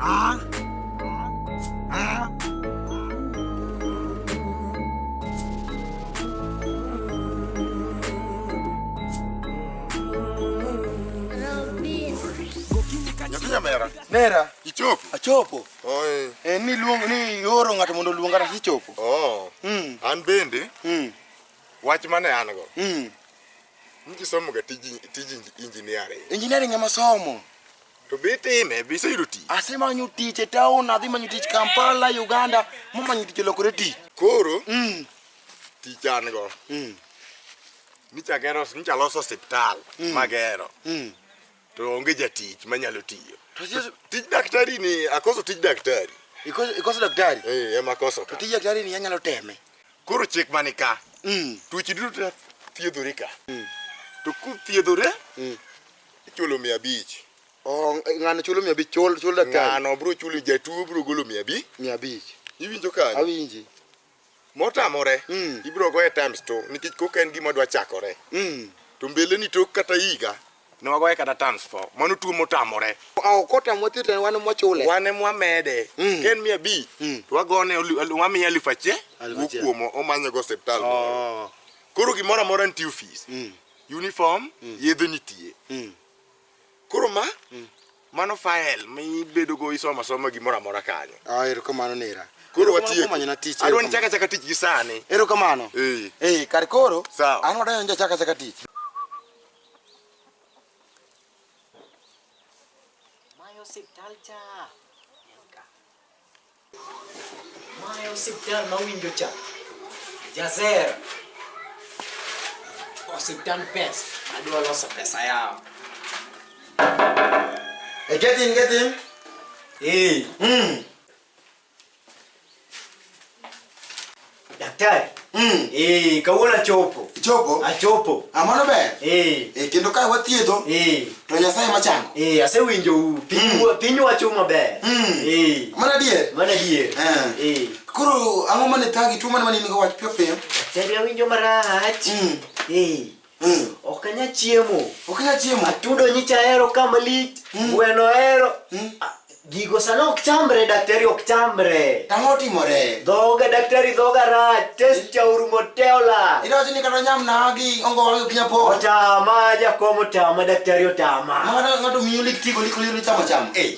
아? 아? Nyakunya mera. Mera. Ichopo. Achopo. Oi. Eh, ni luong ni yoro ng'ato mondo luonga na sichopo. Oh. Mm. An bende. Mm. Wach mane an go. Mm. Nji somo ga tiji tiji engineering. Engineering ema somo. To be time be sayudo tich. Asemanyo tich e town, adhi manyo tich Kampala, Uganda, momanyo tich lokore tich. Koro mm. tich an go. Mm. Nicha gero, nicha loso hospital mm. magero. Mm. To onge jatich manyalo tiyo. Tij daktari ni akoso tij daktari. Ikoso, ikoso daktari? Eh, ema koso. Tij daktari ni anyalo teme. Koro chik mani ka, Mm. tuoche duto thiedhore ka. To kuthiedhore, ichulo mia abich. Oh, ng'ano chulo mia abich chul chul daktari Ng'ano bro chulo jatuo bro golo mia abich. mia abich. Iwinjo kanyo? Awinji. Motamore, Mm. ibro goye times two nikech koka en gima dwa chakore. Mm. To mbele ni tok kata higa, ne wagoye kata tans fo mano tuo motamore okotamwa thieth en wan mwachule wan mwamede mm. ken mia bi mm. to wagone wamiye alif achiel wukuomo omanyogo osiptal oh. koro gimoro amora nitie ofis mm. uniform yedhe nitie koro ma mano file mibedogo isomo asoma gimoro amora kanyo ah, erokamano nera koro watiekmanyona tich adwa ni chaka chaka tich gi sani erokamano ee kar koro an wadayonja chaka chaka tich Mae osiptal cha. Mae osiptal ma winjo cha. Jazer. Osiptal pes. Adwa loso pesa yao. Hey, get in, get in. Hey. Mm. Daktari. Mm. Eh, kawuono chopo. Chopo? Achopo. Amano ah, ber. Eh. Eh, kendo ka wathiedho. Eh. To Nyasaye machang. Eh, asewinjo u. Piny mm. piny wacho maber. Mm. Eh. Mana dier. Mana dier. Eh. eh. Koro ang'o mane thagi tuo mane mane nigo wach piyo piyo? Daktari awinjo marach. Mm. Eh. Mm. Ok anya chiemo. Ok anya chiemo. Atudo nyicha hero kama lit. Mm. Gweno hero. Mm. Ah, gigo sana ok chamre daktari ok chamre. Tang'o timore. Dhoga daktari dhoga rach. Test cha urumo teola. Ira chini kata nyam na agi ongo wangi kinya po. Otama ja komo tama daktari otama. Mwana ngatu miyo lik tigo lik liyo chama chama. Eh.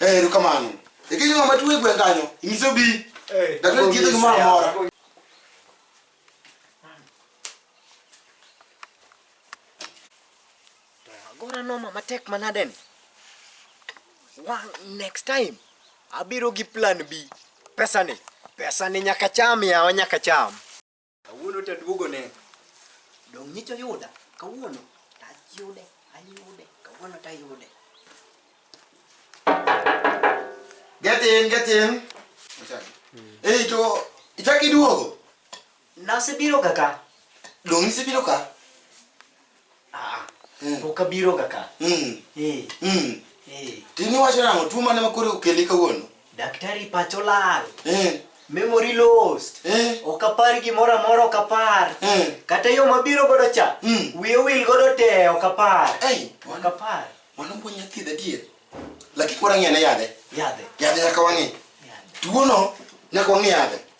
Eh, erokamano. Ikiji ng'ama tuo e gweng' kanyo, inyiso bi. Eh, Daktari thiedho gimoro amora. Agora noma matek manade ni. One next time abiro gi plan B. Pesa ni, pesa ni nyaka cham yawa nyaka cham. Kawuono to aduogo ne. Dong' nyicho yuda. Kawuono to ayude. Ayude. Kawuono to ayude. Get in, get in. Ei to ichak iduogo. Nasebiroga ka. Dong' isebiro ka? Pok abiro ga ka. Mm. Eh. Mm. Eh. Tini wacho nang'o tuo mane makore okeli kawuono? Daktari pacho lal. Eh. Memory lost. Eh. Ok apar gimoro amora ok apar. Eh. Kata yo mabiro godo cha. Mm. Wiye wil godo te ok apar. Ei, Ok apar. mano puonj nyathi dadier. Lakini kora ng'e ne yadhe. Yadhe. Yadhe nyaka wang'e. Yadhe. Tuono nyaka wang'e yadhe.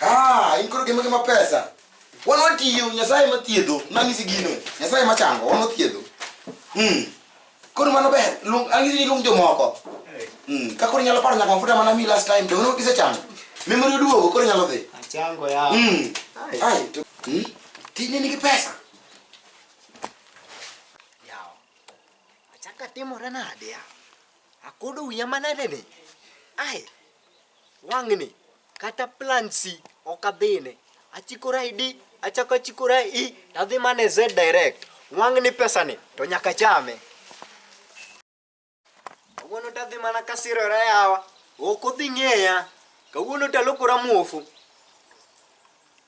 Ah, in koro gima gima pesa. Wan watiyo Nyasaye ma thiedho, nang'isi gino. Nyasaye ma chango, wan wathiedho. Mm. Koro mano ber, luong ang'isi ni luong jomoko. Mm. Ka koro inyalo paro nyaka mafuta mana mi last time, to wono kisechango. Memory oduogo, koro inyalo dhi. Achango ya. Mm. Ai, to mm. Tijni nigi pesa. Yawa. Achaka timore nade ya? Akodo wiya manade ni. Ai, wang'ni kata plansi ok adhine. Achikora e D, achako achikora e E, to adhi mana e Z direct. Wang'ni pesani to nyaka chame. Kawuono to adhi mana kasirora yawa, ok odhi ng'eya. Kawuono to alokora muofu.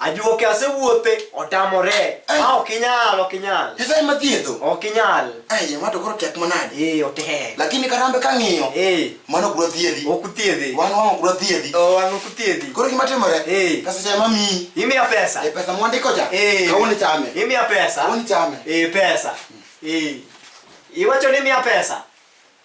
Ajuoke asewuothe otamore. Ai. Ma ok inyal, ok inyal. Nyasaye ma thiedho. Ok inyal. Ai, ng'ato koro tek manade. Eh, otek. Lakini karambe kang'iyo. Eh. Mano ok dwathiedhi. Ok uthiedhi. Wan wang' ok dwathiedhi. Oh, wan ok uthiedhi. Koro gima timore. Eh. Pesa cha mamiyi. Imiya pesa. Eh, pesa mwandiko cha. Eh. Kawuono chame. Imiya pesa. Kawuono chame. Eh, pesa. Eh. Iwacho ni imiya pesa.